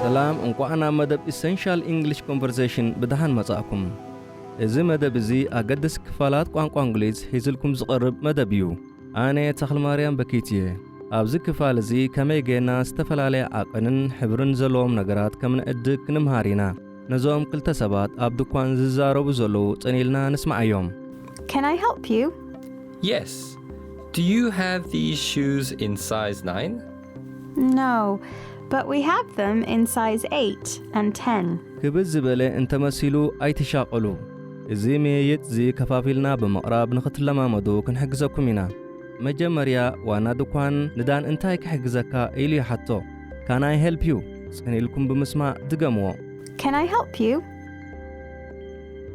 ሰላም እንቋዕ ናብ መደብ ኢሰንሻል ኢንግሊሽ ኮንቨርሴሽን ብደሓን መጻእኩም። እዚ መደብ እዚ ኣገደስቲ ክፋላት ቋንቋ እንግሊዝ ሒዝልኩም ዝቐርብ መደብ እዩ። ኣነ ተኽልማርያም በኪት እየ። ኣብዚ ክፋል እዚ ከመይ ጌና ዝተፈላለየ ዓቐንን ሕብርን ዘለዎም ነገራት ከም ንዕድግ ክንምሃር ኢና። ነዞም ክልተ ሰባት ኣብ ድኳን ዝዛረቡ ዘለዉ ጽን ኢልና ንስምዓዮም። Can I help you? Yes! Do you have these shoes in size nine? No, but we have them in size eight and ten. ክብድ ዝበለ እንተ መሲሉ ኣይትሻቐሉ። እዚ ምይይጥ'ዚ ከፋፊልና ብምቕራብ ንኽትለማመዱ ክንሕግዘኩም ኢና። መጀመርያ ዋና ድኳን ንዳን እንታይ ክሕግዘካ ኢሉ ይሓቶ። Can I help you? ጽን ኢልኩም ብምስማዕ ድገምዎ። Can I help you?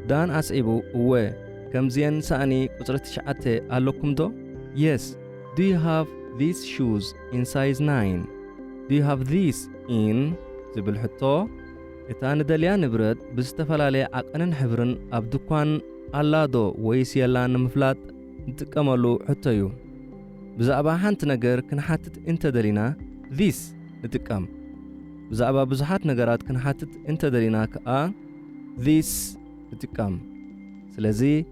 ዳን ኣስዒቡ፣ እወ፣ ከምዚኤን ሳእኒ ቁጽሪ ትሽዓተ ኣለኩም'ዶ? Yes! Do you have these shoes in size nine? Do you have these in ዝብል ሕቶ፣ እታ ንደልያ ንብረት ብዝተፈላለየ ዓቐንን ሕብርን ኣብ ድኳን ኣላዶ ወይስ የላን ንምፍላጥ ንጥቀመሉ ሕቶ እዩ። ብዛዕባ ሓንቲ ነገር ክንሓትት እንተደሊና this ንጥቀም። ብዛዕባ ብዙሓት ነገራት ክንሓትት እንተደሊና ከኣ these ንጥቀም። ስለዚ።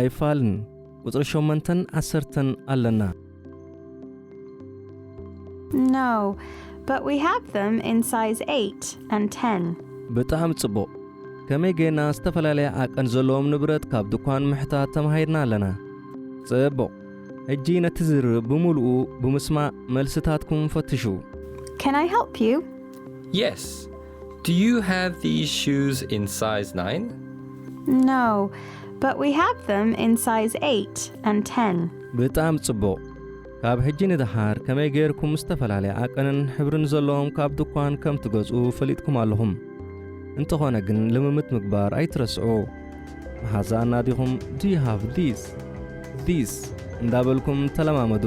ኣይፋልን ቁጽሪ ሸሞንተን ዓሰርተን ኣለና። No, but we have them in size eight and ten. ብጣዕሚ ጽቡቕ! ከመይ ጌና ዝተፈላለየ ዓቀን ዘለዎም ንብረት ካብ ድኳን ምሕታት ተማሂርና ኣለና። ጽቡቕ! ሕጂ ነቲ ዝርርብ ብምሉኡ ብምስማዕ መልስታትኩም ፈትሹ። Can I help you? Yes. Do you have these shoes in size 9? No, but we have them in size 8 and 10. ብጣም ጽቡቕ ካብ ሕጂ ንደሓር ከመይ ጌርኩም ዝተፈላለየ ዓቀንን ሕብርን ዘለዎም ካብ ድኳን ከም ትገዝኡ ፈሊጥኩም ኣለኹም እንተኾነ ግን ልምምት ምግባር ኣይትረስዑ መሓዛኣና ዲኹም ዱ ሃቭ ዲስ ዲስ እንዳበልኩም ተለማመዱ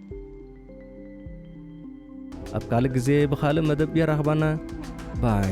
ኣብ ካልእ ግዜ ብኻልእ መደብ የራኽባና ባይ